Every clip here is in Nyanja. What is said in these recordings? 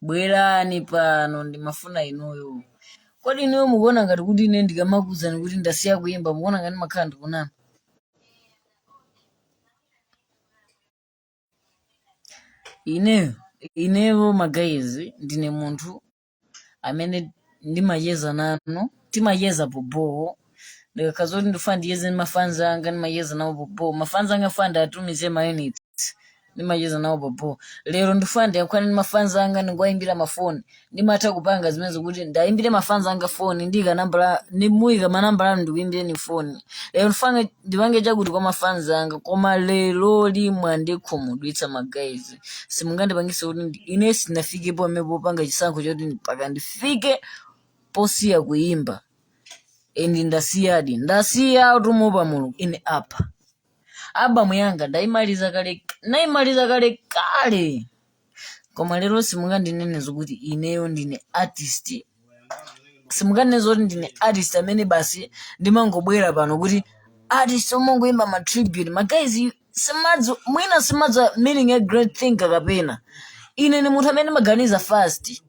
Bwerani pano, ndimafuna inuyo. Kodi inuyo mukuona ngati kuti ine ndikamakuwuzani kuti ndasiya kuyimba, mukuona ngati ndimakhala ndikunama? Ineyo, ineyo magayizi ndine munthu amene ndimacheza nanu, timacheza pobowo, ndikakhala zoti ndifuna ndicheze ndi mafanzi anga ndimacheza nawo pobowo, mafanzi anga ndifuna ndiatumize mayunitsi. ndimacheza nawo pobowo lero ndifuna ndiyankhulane ndi mafans anga ndingowayimbira mafoni ndimatha kupanga zimenezo kuti ndiwayimbire mafans anga foni ndiyika nambala ndimuyika manambala anu ndikuyimbireni foni lero ndifuna ndipange chakuti kwa mafans anga koma lero mwandikhumudwitsa magayizi simungandipangise kuti ndi- ine sindinafikepo amene popanga chisankho choti mpaka ndifike posiya kuyimba endi ndasiyadi ndasiya utumupa mulungu ine apa album yanga ndaimaliza kale naimaliza kale kale koma lero simungandinene zokuti ineyo ndine artist simungandinene zoti ndine artist amene basi ndimangobwera pano kuti artist omangoimba ma tribute magayizi simadzi mwina simudziwa meaning ya great thinker kapena ine ndi munthu amene ndimaganiza fast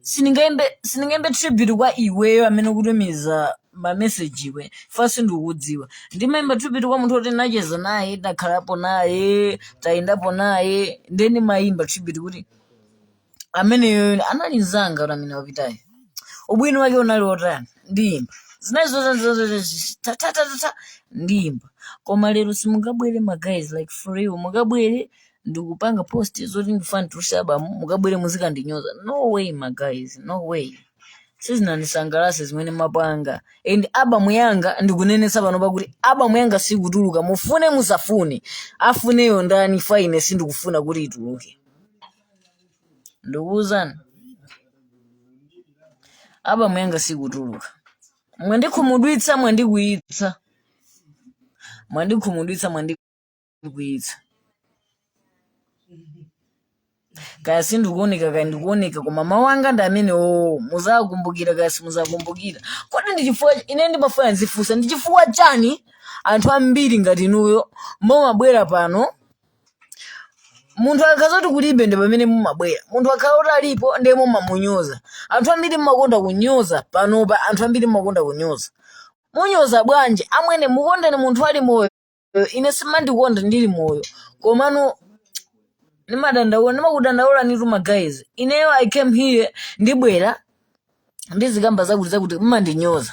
sindingaimbe sindingaimbe tribute kwa iweyo amene ukutumiza mameseji iwe fan sindikukudziwa ndimaimba tribute kwa munthu oti nacheza naye takhalapo naye tayendapo naye ndiye ndimaimba tribute kuti ameneyo anali mzanga kuti amene wapitayo ubwino wake unali wotani ndiyimba zinayi zotatatata ndiyimba koma lero simungabwere magayizi like for real mungabwere ndikupanga post zoti ndifuna nditulutse album mukabwere muzikandinyoza no way magayizi no way sizinandisangalatse zimene mwapanga and album yanga ndikunenetsa pano pakuti album yanga sikutuluka mufune musafune afuneyo ndani fine sindikufuna kuti ituluke ndikuwuzani album yanga sikutuluka mwandikhumudwitsa mwandikwiyitsa mwandikhumudwitsa mwandi ndikwiyitsa kaya sindikuoneka kaya ndikuoneka koma mawu anga ndi amene oo muzakumbukira kaya simuzakumbukira kodi ndi chifukwa ine ndimafuna ndizifunse ndi chifukwa chani anthu ambiri ngati inuyo mumabwera pano munthu akakhala zoti kulibe nde pamene mumabwera munthu akhala kuti alipo ndiye mumamunyoza anthu ambiri mumakonda kunyoza panopa anthu ambiri mumakonda kunyoza munyoza bwanji amwene mukondeni munthu ali moyo Eh, ine simandikonda ndili moyo komano ndimadandaula ndimakudandaula nitu magayizi ineyo i came here ndibwera ndizikamba zakuti zakuti mmandinyoza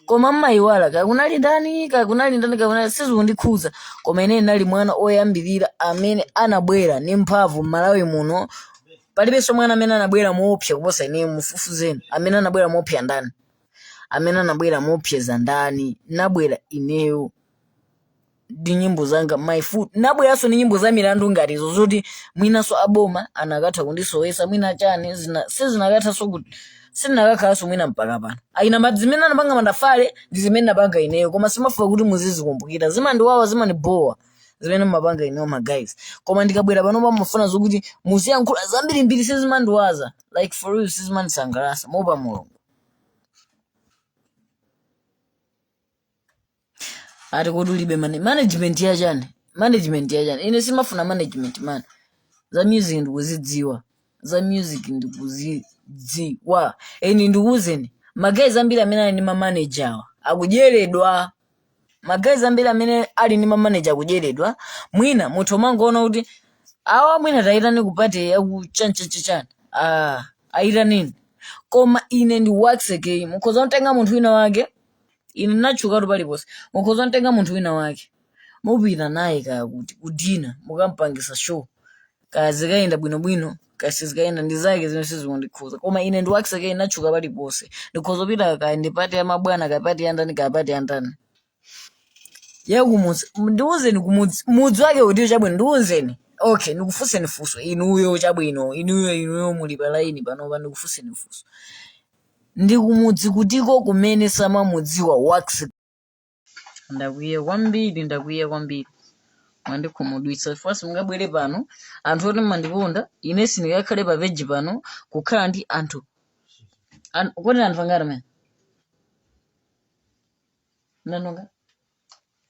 koma mmayiwala kaya kunali ndani kaya kunali ndani kaya kunali sizikundikhuza koma ine ndinali mwana oyambirira amene anabwera ndi mphamvu m'malawi muno palibenso mwana amene anabwera moopsa kuposa ine mufufuzeni amene anabwera moopsa ndani amene anabwera moopseza ndani nabwera ineyo ndi nyimbo zanga my foot nabweranso ndi nyimbo za milandu ngati izo zoti mwinanso aboma anakatha kundisowesa mwina chani zina sizinakathanso kuti sindinakakhalanso mwina mpaka pano ayina ma zimene anapanga mandafale ndi zimene napanga ineyo koma simafuna kuti muzizikumbukira zimandiwawa zimandibowa zimene mumapanga ineyo ma guys koma ndikabwera pano pamafuna zokuti muziyankhula zambirimbiri sizimandiwaza like for real sizimandisangalasa moopa mulungu ati kodi ulibe mane management ya chani management ya chani ine simafuna management man za music ndikuzidziwa za music ndikuzidziwa eni ndikuuzeni magayizi ambiri amene ali ndi mamanager awa akudyeredwa magayizi ambiri amene ali ndi mamaneja akudyeredwa mwina munthu omangoona kuti awa mwina tayitani kupati yakuchanchachichani ah, ayitanini koma ine ndi Waxy Kay mukhoza kutenga munthu wina wake ine natchukatu paliponse mukhoza kutenga munthu wina wake mupita naye kaya kuti kudina mukampangisa show kaya zikayenda bwinobwino kaya sizikayenda ndi zake zimene sizikundikhuza koma ine ndi Waxy Kay ine natchuka paliponse ndikhoza kupita kaya ndi pati ya mabwana kaya pati ya ndani kaya pati ya ndani yakumudzi ndiwuzeni kumudzi mudzi wake utiyo chabwino ndiwuzeni okay ndikufunseni funso inuyo chabwino inuyo inuyo muli pa laini panopa ndikufunseni funso ndi kumudzi kutiko kumene samamudziwa Waxy ndakwiya kwambiri ndakwiya kwambiri mwandikhumudwitsa chifukwa simungabwere pano anthu oti mmandikonda ine sindingakhale pa peji pano kukhala ndi anthu an- kodi anthu angati amene nanonga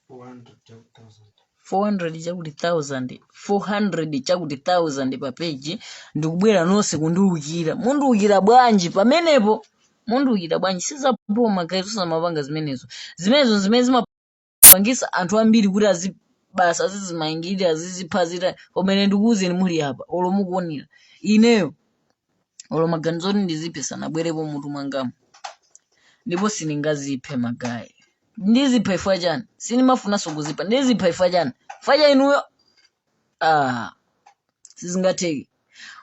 400 chakuti 1000 400 chakuti 1000 pa peji ndikubwera nonse kundiwukira mundiwukira bwanji pamenepo Mundiukira bwanji? Si za bho ma guys osamapanga zimenezo. Zimenezo nzimene zimapangisa anthu ambiri kuti azibasa azizimangilira azizipha azita koma ine ndikuuzeni muli apa olo mukuonera ineyo olo maganizo oti ndiziphe sanabwerepo mutu mwangamu ndipo sindingaziphe magayi ndizipha ifwa chani sindimafunanso kuzipha ndizipha ifwa chani ifwa cha inuyo ah sizingatheke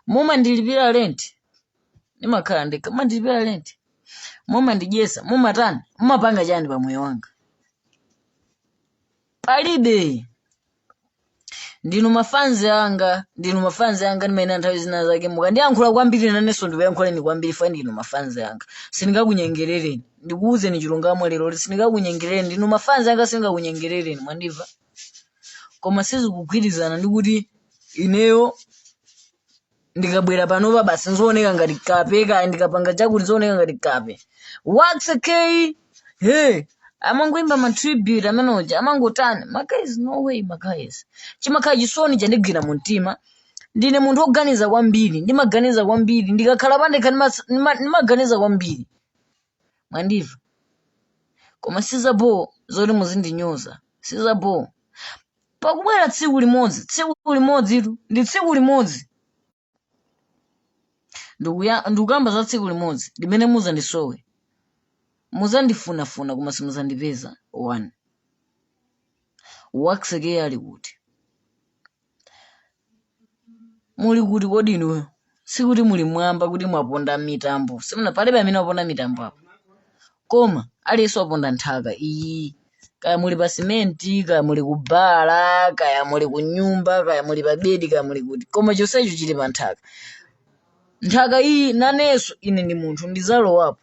mumandilipira lenti ndimakhala ndekha mumandilipira lenti mumandidyetsa mumatani mumapanga chani pa moyo wanga palibe ndinu mafanzi anga ndinu mafanzi anga ndimayenera nthawi zina zake mukandiyankhula kwambiri nanenso ndikuyankhuleni kwambiri fa ndinu mafanzi anga sindingakunyengerereni ndikuwuzeni chilungamo lero kuti sindingakunyengerereni ndinu mafanzi anga sindingakunyengerereni mwandimva koma sizikugwirizana ndi kuti ineyo ndikabwera panopa basi nzooneka ngati kape kaya ndikapanga chakuti nzooneka ngati kape Waxy Kay amangoimba ma tribute amene uja amangotani magayizi no way magayizi chimakhala chisoni chandigwira mu mtima ndine munthu woganiza kwambiri ndimaganiza kwambiri ndikakhala pandekha ndimas- ndima- ndimaganiza kwambiri mwandiva koma sizabho zoti muzindinyoza sizabho Pakubwera tsiku limodzi, tsiku limodzitu, ndi tsiku limodzi. Ndikuya- Ndikukamba za tsiku limodzi limene muzandisowe, muzandifunafuna koma simuzandipeza. 1 Waxy Kay ali kuti? muli kuti kodi inuyo sikuti muli mwamba kuti mwaponda m'mitambo simuna palibe amene waponda mitambo apo koma aliyense waponda nthaka iyi kaya muli pa simenti kaya muli ku bala kaya muli ku nyumba kaya muli pa bedi kaya muli kuti koma chonsecho chili pa nthaka nthaka iyi nanenso ndine munthu ndizalowapo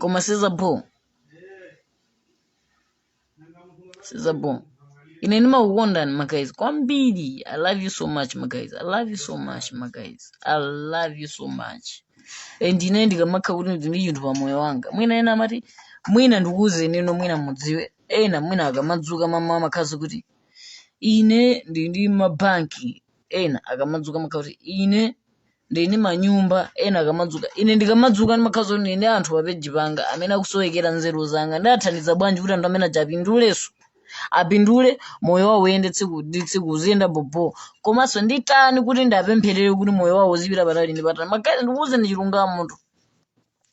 koma sizabho sizabho ine ndimakukondani magayizi kwambiri i love you so much magayizi i love you so much magayizi i love you so much and ine ndikamakha kuti ndili ndi chinthu pa moyo wanga mwina ena amati mwina ndikuuzenino mwina mudziwe ena mwina akamadzuka m'mawa amakhazi kuti ine ndili ndi mabanki ena akamadzuka amakha kuti ine ndili ndi manyumba ena akamadzuka ine ndikamadzuka ndimakhala zoti ndili ndi anthu pa peji panga amene akusowekera nzeru zanga ndathandiza bwanji kuti anthu amene aja apindulenso apindule moyo wawo uyende tsiku ndi tsiku uziyenda bhobho komanso nditani kuti ndapempherere kuti moyo wawo uzipita patali ndi patali magayizi ndikuwuzeni chilungamotu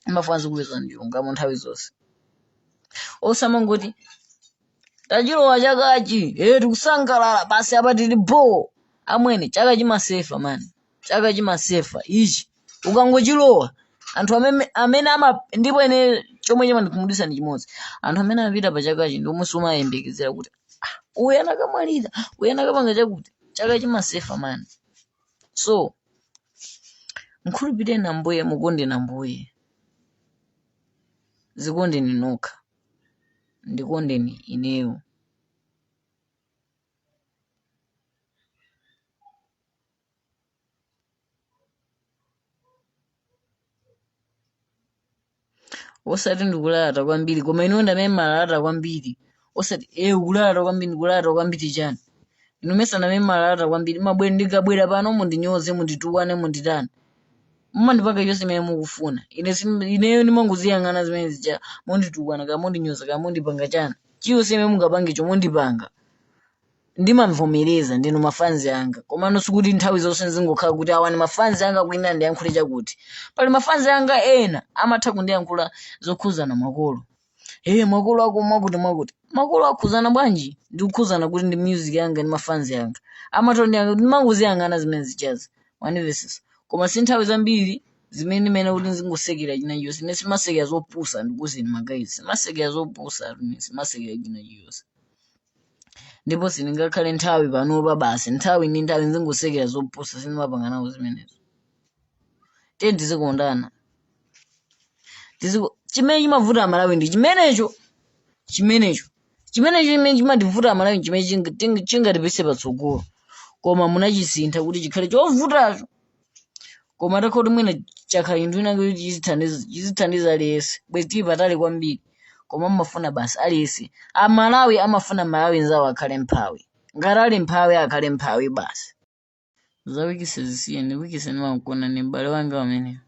ndimafuna ndizikuwuzani chilungamo nthawi zonse osamangoti tachilowa chakachi eh tikusangalala basi apa tili bho amwene chaka chimasefa mani chaka chimasefa ichi ukangochilowa anthu amene amene ama ndipo ine chomwe chimandikhumudwitsa ndi chimodzi anthu amene amapita pa chakachi ndi omwe sumayembekezera kuti "Ah, uyu akanamwalira uyu akanapanga chakuti chaka chimasefa mani so mkhulupireni ambuye mukondeni ambuye zikondeni nokha ndikondeni ineyo osati ndikulalata kwambiri koma inu ndamene malalata kwambiri osati ukulalata kwambiri ndikulalata kwambiri chani inu mesa ndamene malalata kwambiri mabwera ndikabwera pano mundinyoze munditukwane munditani mumandipanga chonse imene mukufuna ine sim- ineyo ndimangoziyang'ana zimene zija munditukwana kaya mundinyoza kaya mundipanga chani chiyonse imene mungapange cho mundipanga ndimamvomereza ndinu ma fans anga komano sikuti nthawi zonse nzingokhala kuti awa ndi ma fans anga kuyenera ndiyankhule chakuti pali ma fans anga ena amatha kundiyankhula zokhuzana makolo ee makolo ako mwakuti mwakuti makolo akhuzana bwanji ndikukhuzana kuti ndi music yanga ndi ma fans anga amatha kundiyankhula ndimangoziyang'ana zimene zijazi mandimvesesa koma si nthawi zambiri zimene ndimene kuti nzingosekera chinachiyonse ine simasekera zopusa ndikuuzeni ma guys simasekera zopusa simasekera chinachiyonse ndipo sindingakhale nthawi panopa basi nthawi ndi nthawi nzingosekera zopusa sindimapanga nawo zimenezo tiyeni tizikondana Tiziko- chimene chimavuta amalawi ndi chimenecho chimenecho chimene chimene chimativuta amalawi chimene chinga- ting- chingatipise patsogolo koma munachisintha kuti chikhale chovutacho koma atakhala kuti mwina chakhala chinthu china kuti chizithandiza chizithandiza aliyense bwezi tili patali kwambiri koma amafuna basi aliyense amalawi amafuna mmalawi nzawo akhale mphawi ngati ali mphawi akhale mphawi basi za wikise zisiyeni wikise ndimankonda ni m'bale wanga amene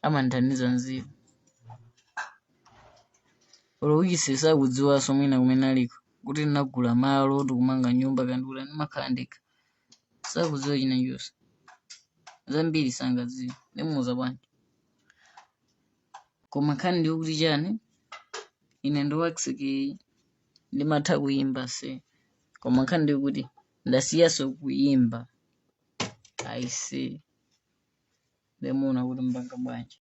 amandithandiza nzeru olo wikise sakudziwanso mwina kumene aliko kuti ndinagula malo ndikumanga nyumba kandikula ndimakhala ndekha Sakudziwa chinachonse. Zambiri sangadziwe. Ndimuuza bwanji. Koma nkhani ndiyo kuti chani? Ine ndi Waxy Kay ndimatha kuyimba aise. Koma nkhani ndiyo kuti ndasiyanso kuyimba. Aise. Nde muona kuti mpanga bwanji.